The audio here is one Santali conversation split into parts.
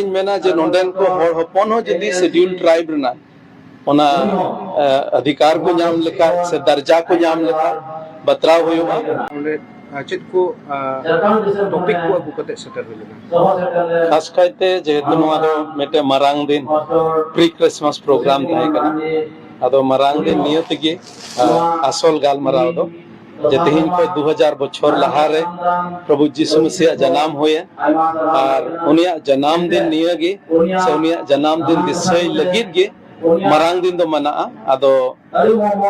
ᱤᱧ ᱢᱮᱱᱟ ᱡᱮ ᱱᱚᱰᱮᱱ ᱠᱚ ᱦᱚᱲ ᱦᱚᱯᱚᱱ ᱦᱚᱸ ᱡᱩᱫᱤ ᱥᱮᱰᱤᱭᱩᱞ ᱴᱨᱟᱭᱤᱵ ᱨᱮᱱᱟᱜ ᱚᱱᱟ ᱚᱫᱷᱤᱠᱟᱨ ᱠᱚ ᱧᱟᱢ ᱞᱮᱠᱟ ᱥᱮ ᱫᱟᱨᱡᱟ ᱠᱚ ᱧᱟᱢ ᱞᱮᱠᱟ ᱵᱟᱛᱨᱟᱣ ᱦᱩᱭᱩᱜᱼᱟ ᱚᱸᱰᱮ ᱪᱮᱫ ᱠᱚ ᱴᱚᱯᱤᱠ ᱠᱚ ᱟᱹᱜᱩ ᱠᱟᱛᱮ ᱥᱮᱴᱮᱨ ᱦᱩᱭ ᱞᱮᱱᱟ ᱠᱷᱟᱥ ᱠᱟᱭᱛᱮ ᱡᱮᱦᱮᱛᱩ ᱱᱚᱣᱟ ᱫᱚ ᱢᱤᱫᱴᱮᱱ ᱢᱟᱨᱟᱝ ᱫᱤᱱ ᱯᱨᱤ ᱠᱨᱤᱥᱢᱟᱥ ᱯᱨᱳᱜᱨᱟᱢ ᱛᱟᱦᱮᱸ ᱠᱟᱱᱟ ᱟᱫᱚ ᱢᱟᱨᱟᱝ ᱫᱤᱱ ᱱᱤᱭᱟᱹ ᱛᱮᱜᱮ ᱟᱥᱚᱞ ᱜᱟᱞᱢᱟᱨᱟᱣ ᱫᱚ ᱡᱮ ᱛᱮᱦᱮᱧ ᱠᱷᱚᱱ ᱫᱩ ᱦᱟᱡᱟᱨ ᱵᱚᱪᱷᱚᱨ ᱞᱟᱦᱟᱨᱮ ᱯᱨᱚᱵᱷᱩ ᱡᱤᱥᱩ ᱢᱮᱥᱤᱭᱟᱜ ᱡᱟᱱᱟᱢ ᱦᱩᱭᱮᱱ ᱟᱨ ᱩᱱᱤᱭᱟᱜ ᱡᱟᱱᱟᱢ ᱫᱤᱱ ᱱᱤᱭᱟᱹ ᱜᱮ ᱥᱮ ᱩᱱᱤᱭᱟᱜ ᱡᱟᱱᱟᱢ ᱫᱤᱱ ᱫᱤᱥᱟᱹᱭ ᱞᱟᱹᱜᱤᱫ ᱜᱮ ᱢᱟᱨᱟᱝ ᱫᱤᱱ ᱫᱚ ᱢᱟᱱᱟᱜᱼᱟ ᱟᱫᱚ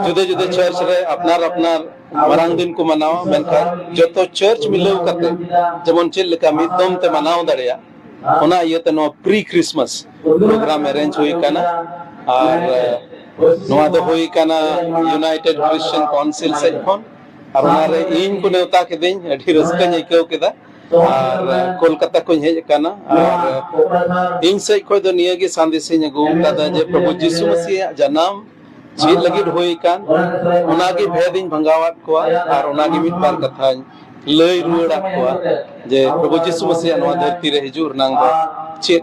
ᱡᱩᱫᱟᱹ ᱡᱩᱫᱟᱹ ᱪᱟᱨᱪ ᱨᱮ ᱟᱯᱱᱟᱨ ᱟᱯᱱᱟᱨ ᱢᱟᱨᱟᱝ ᱫᱤᱱ ᱠᱚ ᱢᱟᱱᱟᱣᱟ ᱢᱮᱱᱠᱷᱟᱱ ᱡᱚᱛᱚ ᱪᱟᱨᱪ ᱢᱤᱞᱟᱹᱣ ᱠᱟᱛᱮ ᱡᱮᱢᱚᱱ ᱪᱮᱫ ᱞᱮᱠᱟ ᱢᱤᱫ ᱫᱚᱢ ᱛᱮ ᱢᱟᱱᱟᱣ ᱫᱟᱲᱮᱭᱟᱜ ᱚᱱᱟ ᱤᱭᱟᱹᱛᱮ ᱱᱚᱣᱟ ᱯᱨᱤ ᱠᱨᱤᱥᱢᱟᱥ ᱯᱨᱳᱜᱨᱟᱢ ᱮᱨᱮᱧᱡᱽ ᱦᱩᱭ ᱠᱟᱱᱟ ᱟᱨ ᱱᱚᱣᱟ ᱫᱚ ᱦᱩᱭ ᱠᱟᱱᱟ ᱭᱩᱱᱟᱭᱴᱮᱰ ᱠᱨᱤᱥᱪᱤᱭᱟᱱ ᱠᱟᱣᱩᱱᱥᱤᱞ ᱥᱮᱫ ᱠᱷᱚᱱ ᱟᱨ ᱚᱱᱟᱨᱮ ᱤᱧ ᱠᱚ ᱱᱮᱣᱛᱟ ᱠᱤᱫᱤᱧ ᱟᱹᱰᱤ ᱨᱟᱹᱥᱠᱟᱹᱧ ᱟᱹᱭᱠᱟᱹᱣ ᱠᱮᱫᱟ ᱟᱨ ᱠᱳᱞᱠᱟᱛᱟ ᱠᱷᱚᱱ ᱦᱮᱡ ᱟᱠᱟᱱᱟ ᱟᱨ ᱤᱧ ᱥᱮᱫ ᱠᱷᱚᱱ ᱫᱚ ᱱᱤᱭᱟᱹ ᱜᱮ ᱥᱟᱸᱫᱮᱥ ᱤᱧ ᱟᱹᱜᱩ ᱟᱠᱟᱫᱟ ᱡᱮ ᱯᱨᱚᱵᱷᱩ ᱡᱤᱥᱩ ᱢᱟᱹᱥᱤᱭᱟᱜ ᱡᱟᱱᱟᱢ ᱪᱮᱫ ᱞᱟᱹᱜᱤᱫ ᱦᱩᱭ ᱟᱠᱟᱱ ᱚᱱᱟᱜᱮ ᱵᱷᱮᱫ ᱤᱧ ᱵᱷᱟᱸᱜᱟᱣᱟᱫ ᱠᱚᱣᱟ ᱟᱨ ᱚᱱᱟᱜᱮ ᱢᱤᱫ ᱵᱟᱨ ᱠᱟᱛᱷᱟᱧ ᱞᱟᱹᱭ ᱨᱩᱣᱟᱹᱲᱟᱫ ᱠᱚᱣᱟ ᱡᱮ ᱯᱨᱚᱵᱷᱩ ᱡᱤᱥᱩ ᱢᱟᱹᱥᱤᱭᱟᱜ ᱱᱚᱣᱟ ᱫᱷᱟᱹᱨᱛᱤ ᱨᱮ ᱦᱤᱡᱩᱜ ᱨᱮᱱᱟᱝ ᱫᱚ ᱪᱮᱫ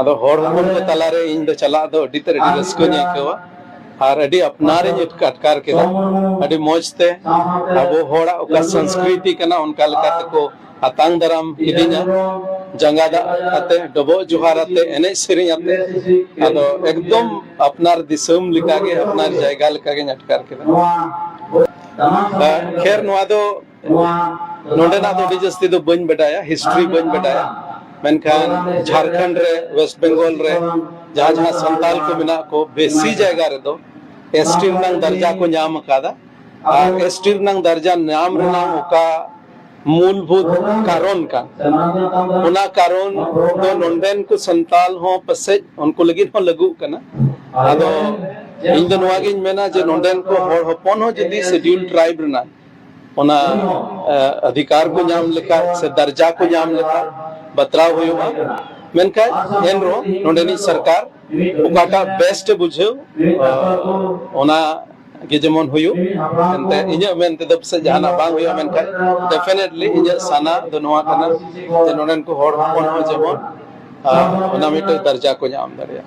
ᱟᱫᱚ ᱦᱚᱲ ᱦᱚᱯᱚᱱ ᱠᱚ ᱛᱟᱞᱟᱨᱮ ᱤᱧ ᱫᱚ ᱪᱟᱞᱟᱜ ᱫᱚ ᱟᱹᱰᱤ ᱛᱮᱫ ᱟᱹᱰᱤ ᱨᱟᱹᱥᱠᱟᱹᱧ ᱟᱹᱭᱠᱟᱹᱣᱟ ᱟᱨ ᱟᱹᱰᱤ ᱟᱯᱱᱟᱨᱤᱧ ᱟᱴᱠᱟᱨ ᱠᱮᱫᱟ ᱟᱹᱰᱤ ᱢᱚᱡᱽ ᱛᱮ ᱟᱵᱚ ᱦᱚᱲᱟᱜ ᱚᱠᱟ ᱥᱚᱝᱥᱠᱨᱤᱛᱤ ᱠᱟᱱᱟ ᱚᱱᱠᱟ ᱞᱮᱠᱟ ᱛᱮᱠᱚ ᱟᱛᱟᱝ ᱫᱟᱨᱟᱢ ᱠᱤᱫᱤᱧᱟ ᱡᱟᱸᱜᱟ ᱫᱟᱜ ᱟᱛᱮ ᱰᱚᱵᱚᱜ ᱡᱚᱦᱟᱨ ᱟᱛᱮ ᱮᱱᱮᱡ ᱥᱮᱨᱮᱧ ᱟᱛᱮ ᱟᱫᱚ ᱮᱠᱫᱚᱢ ᱟᱯᱱᱟᱨ ᱫᱤᱥᱚᱢ ᱞᱮᱠᱟᱜᱮ ᱟᱯᱱᱟᱨ ᱡᱟᱭᱜᱟ ᱞᱮᱠᱟᱜᱤᱧ ᱟᱴᱠᱟᱨ ᱠᱮᱫᱟ ᱠᱷᱮᱨ ᱱᱚᱣᱟ ᱫᱚ ᱱᱚᱰᱮᱱᱟᱜ ᱫᱚ ᱟᱹᱰᱤ ᱡᱟᱹᱥᱛᱤ ᱫᱚ ᱵᱟᱹᱧ ᱵᱟᱰᱟᱭᱟ ᱦᱤᱥᱴᱨᱤ ᱵᱟᱹᱧ ᱵᱟᱰᱟᱭᱟ ᱢᱮᱱᱠᱷᱟᱱ ᱡᱷᱟᱲᱠᱷᱚᱸᱰ ᱨᱮ ᱣᱮᱥᱴ ᱵᱮᱝᱜᱚᱞ ᱨᱮ ᱡᱟᱦᱟᱸ ᱡᱟᱦᱟᱸ ᱥᱟᱱᱛᱟᱞ ᱠᱚ ᱢᱮᱱᱟᱜ ᱠᱚ ᱵᱮᱥᱤ ᱡᱟᱭᱜᱟ ᱨᱮᱫᱚ ᱮᱥ ᱴᱤ ᱨᱮᱱᱟᱜ ᱫᱟᱨᱡᱟ ᱠᱚ ᱧᱟᱢ ᱟᱠᱟᱫᱟ ᱟᱨ ᱮᱥ ᱴᱤ ᱨᱮᱱᱟᱜ ᱫᱟᱨᱡᱟ ᱧᱟᱢ ᱨᱮᱱᱟᱜ ᱚᱠᱟ मूलभूत कारण का ᱚᱱᱟ ᱠᱟᱨᱚᱱ ᱫᱚ ᱱᱚᱰᱮᱱ ᱠᱚ ᱥᱟᱱᱛᱟᱞ ᱦᱚᱸ ᱯᱟᱥᱮᱡ ᱩᱱᱠᱩ ᱞᱟᱹᱜᱤᱫ ᱦᱚᱸ ᱞᱟᱹᱜᱩᱜ ᱠᱟᱱᱟ ᱟᱫᱚ ᱤᱧ ᱫᱚ ᱱᱚᱣᱟ ᱜᱤᱧ ᱢᱮᱱᱟ ᱡᱮ ᱱᱚᱰᱮᱱ ᱠᱚ ᱦᱚᱲ ᱦᱚᱯᱚᱱ ᱦᱚᱸ ᱡᱩᱫᱤ ᱥᱮᱰᱤᱭᱩᱞ ᱴᱨᱟᱭᱤᱵ ᱨᱮᱱᱟᱜ ᱚᱱᱟ ᱚᱫᱷᱤᱠᱟᱨ ᱠᱚ ᱧᱟᱢ ᱞᱮᱠᱟ ᱥᱮ ᱫᱟᱨᱡᱟ ᱠᱚ ᱧᱟᱢ ᱞᱮᱠᱟ ᱵᱟᱛᱨᱟᱣ ᱦᱩᱭᱩᱜᱼᱟ ᱢᱮᱱᱠᱷᱟᱱ ᱮᱱᱨᱮᱦᱚᱸ ᱱᱚᱰᱮᱱᱤᱡ ᱥᱚᱨᱠᱟᱨ ᱚᱠᱟᱴᱟᱜ ᱵᱮᱥᱴ ᱵᱩᱡᱷᱟᱹᱣ ᱚᱱᱟ ᱜᱮ ᱡᱮᱢᱚᱱ ᱦᱩᱭᱩᱜ ᱮᱱᱛᱮ ᱤᱧᱟᱹᱜ ᱢᱮᱱ ᱛᱮᱫᱚ ᱯᱟᱥᱮᱡ ᱡᱟᱦᱟᱱᱟᱜ ᱵᱟᱝ ᱦᱩᱭᱩᱜᱼᱟ ᱢᱮᱱᱠᱷᱟᱱ ᱰᱮᱯᱷᱤᱱᱮᱴᱞᱤ ᱤᱧᱟᱹᱜ ᱥᱟᱱᱟ ᱫᱚ ᱱᱚᱣᱟ ᱠᱟᱱᱟ ᱡᱮ ᱱᱚᱰᱮᱱ ᱠᱚ ᱦᱚᱲ ᱦᱚᱯᱚᱱ ᱦᱚᱸ ᱡᱮᱢᱚᱱ ᱚᱱᱟ ᱢᱤᱫᱴᱮᱱ ᱫᱟᱨᱡᱟ ᱠᱚ ᱧᱟᱢ ᱫᱟᱲᱮᱭᱟᱜ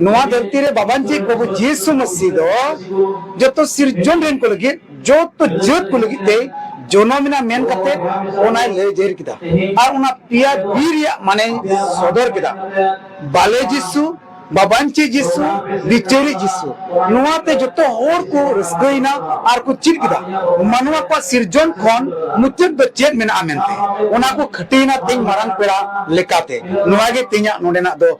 ᱱᱚᱣᱟ ᱫᱷᱟᱹᱨᱛᱤ ᱨᱮ ᱵᱟᱵᱟᱱᱡᱤ ᱯᱨᱚᱵᱷᱩ ᱡᱤᱥᱩ ᱢᱟᱹᱥᱤ ᱫᱚ ᱡᱚᱛᱚ ᱥᱤᱨᱡᱚᱱ ᱨᱮᱱ ᱠᱚ ᱞᱟᱹᱜᱤᱫ ᱡᱚᱛᱚ ᱡᱟᱹᱛ ᱠᱚ ᱞᱟᱹᱜᱤᱫ ᱛᱮ ᱡᱚᱱᱚᱢ ᱮᱱᱟ ᱢᱮᱱ ᱠᱟᱛᱮ ᱚᱱᱟᱭ ᱞᱟᱹᱭ ᱡᱟᱹᱨ ᱠᱮᱫᱟ ᱟᱨ ᱚᱱᱟ ᱯᱮᱭᱟ ᱵᱤ ᱨᱮᱭᱟᱜ ᱢᱟᱱᱮ ᱥᱚᱫᱚᱨ ᱠᱮᱫᱟ ᱵᱟᱞᱮ ᱡᱤᱥᱩ ᱵᱟᱵᱟᱱᱪᱤ ᱡᱤᱥᱩ ᱵᱤᱪᱟᱹᱨᱤ ᱡᱤᱥᱩ ᱱᱚᱣᱟ ᱛᱮ ᱡᱚᱛᱚ ᱦᱚᱲ ᱠᱚ ᱨᱟᱹᱥᱠᱟᱹᱭᱮᱱᱟ ᱟᱨ ᱠᱚ ᱪᱮᱫ ᱠᱮᱫᱟ ᱢᱟᱱᱣᱟ ᱠᱚᱣᱟᱜ ᱥᱤᱨᱡᱚᱱ ᱠᱷᱚᱱ ᱢᱩᱪᱟᱹᱫ ᱫᱚ ᱪᱮᱫ ᱢᱮᱱᱟᱜᱼᱟ ᱢᱮᱱᱛᱮ ᱚᱱᱟ ᱠᱚ ᱠᱷᱟᱹᱴᱤᱭᱮᱱᱟ ᱛᱮᱦᱮᱧ ᱢᱟᱨᱟᱝ ᱯᱮᱲᱟ ᱞᱮᱠᱟᱛᱮ ᱱᱚᱣᱟ ᱜᱮ ᱛᱮᱦᱮᱧᱟᱜ ᱱᱚᱰᱮᱱᱟᱜ ᱫᱚ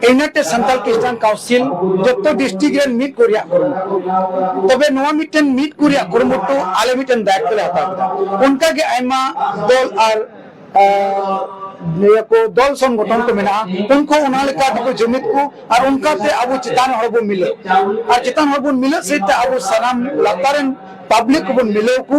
ᱤᱭᱩᱱᱟᱭᱴᱮᱰ ᱥᱟᱱᱛᱟᱞ ᱠᱨᱤᱥᱪᱟᱱ ᱠᱟᱣᱩᱱᱥᱤᱞ ᱡᱚᱛᱚ ᱰᱤᱥᱴᱨᱤᱠᱴ ᱨᱮᱱ ᱢᱤᱫ ᱠᱚ ᱨᱮᱭᱟᱜ ᱠᱩᱨᱩᱢᱩᱴᱩ ᱛᱚᱵᱮ ᱱᱚᱣᱟ ᱢᱤᱫᱴᱮᱱ ᱢᱤᱫ ᱠᱚ ᱨᱮᱭᱟᱜ ᱠᱩᱨᱩᱢᱩᱴᱩ ᱟᱞᱮ ᱢᱤᱫᱴᱮᱱ ᱫᱟᱭᱤᱛᱛᱚ ᱞᱮ ᱦᱟᱛᱟᱣ ᱠᱮᱫᱟ ᱚᱱᱠᱟ ᱜᱮ ᱟᱭᱢᱟ ᱫᱚᱞ ᱟᱨ ᱱᱤᱭᱟᱹ ᱠᱚ ᱫᱚᱞ ᱥᱚᱝᱜᱚᱴᱷᱚᱱ ᱠᱚ ᱢᱮᱱᱟᱜᱼᱟ ᱩᱱᱠᱩ ᱚᱱᱟ ᱞᱮᱠᱟ ᱛᱮᱠᱚ ᱡᱩᱢᱤᱫ ᱠᱚ ᱟᱨ ᱚᱱᱠᱟᱛᱮ ᱟᱵᱚ ᱪᱮᱛᱟᱱ ᱦᱚᱲ ᱵᱚᱱ ᱢᱤᱞᱟᱹᱜ ᱟᱨ ᱪᱮᱛᱟᱱ ᱦᱚᱲ ᱵᱚᱱ ᱢᱤᱞᱟᱹᱜ ᱥᱮᱫ ᱛᱮ ᱟᱵᱚ ᱥᱟᱱᱟᱢ ᱞᱟᱛᱟᱨ ᱨᱮᱱ ᱯᱟᱵᱽᱞᱤᱠ ᱠᱚᱵᱚᱱ ᱢᱤᱞᱟᱹᱣ ᱠᱚ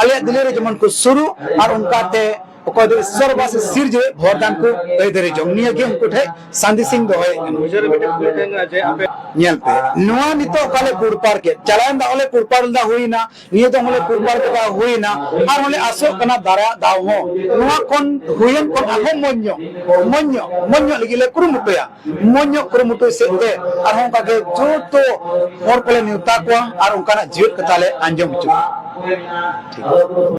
ᱟᱞᱮᱭᱟᱜ ᱫᱤᱞᱤ ᱨᱮ ᱡᱮᱢᱚᱱ ᱠᱚ ᱥᱩᱨᱩᱜ ᱟᱨ ᱚᱱᱠᱟᱛᱮ ᱚᱠᱚᱭ ᱫᱚ ᱤᱥᱥᱚᱨ ᱵᱟᱥ ᱥᱤᱨᱡᱟᱹ ᱵᱷᱚᱨᱫᱟᱱ ᱠᱚ ᱟᱹᱭᱫᱟᱹᱨᱤ ᱡᱚᱝ ᱱᱤᱭᱟᱹ ᱜᱮ ᱩᱱᱠᱩ ᱴᱷᱮᱡ ᱥᱟᱸᱫᱮᱥ ᱤᱧ ᱫᱚᱦᱚᱭᱮᱫ ᱠᱟᱱᱟ ᱢᱩᱪᱟᱹᱫ ᱨᱮ ᱢᱤᱫᱴᱮᱱ ᱠᱩᱞᱤ ᱛᱟᱦᱮᱱ ᱠᱟᱱᱟ ᱡᱮ ᱟᱯᱮ ᱧᱮᱞ ᱯᱮ ᱱᱚᱣᱟ ᱱᱤᱛᱚᱜ ᱚᱠᱟ ᱞᱮ ᱯᱩᱨᱯᱟᱨ ᱠᱮᱫ ᱪᱟᱞᱟᱣᱮᱱ ᱫᱟᱣ ᱞᱮ ᱯᱩᱨᱯᱟᱨ ᱞᱮᱫᱟ ᱦᱩᱭᱱᱟ ᱱᱤᱭᱟᱹ ᱫᱚ ᱦᱚᱸᱞᱮ ᱯᱩᱨᱯᱟᱨ ᱠᱮᱫᱟ ᱦᱩᱭᱱᱟ ᱟᱨ ᱦᱚᱸᱞᱮ ᱟᱥᱚᱜ ᱠᱟᱱᱟ ᱫᱟᱨᱟᱭᱟᱜ ᱫᱟᱣ ᱦᱚᱸ ᱱᱚᱣᱟ ᱠᱷᱚᱱ ᱦᱩᱭᱮᱱ ᱠᱷᱚᱱ ᱟᱨᱦᱚᱸ ᱢᱚᱡᱽ ᱧᱚᱜ ᱢᱚᱡᱽ ᱧᱚᱜ ᱢᱚᱡᱽ ᱧᱚᱜ ᱞᱟᱹᱜᱤᱫ ᱞᱮ ᱠᱩᱨᱩᱢᱩᱴᱩᱭᱟ ᱢᱚᱡᱽ ᱧᱚᱜ ᱠᱩᱨᱩᱢᱩᱴᱩᱭ ᱥᱮᱫ ᱛᱮ ᱟᱨᱦᱚᱸ ᱚᱱᱠᱟ ᱜᱮ ᱡᱚᱛᱚ ᱦᱚᱲ ᱠᱚᱞᱮ ᱱᱮᱣᱛᱟ ᱠᱚᱣᱟ ᱟᱨ ᱚᱱᱠᱟᱱᱟᱜ ᱡᱤᱭᱟᱹᱲ ᱠᱟᱛᱷᱟ ᱞᱮ ᱟᱸᱡᱚᱢ ᱦᱚᱪᱚ ᱠᱚᱣᱟ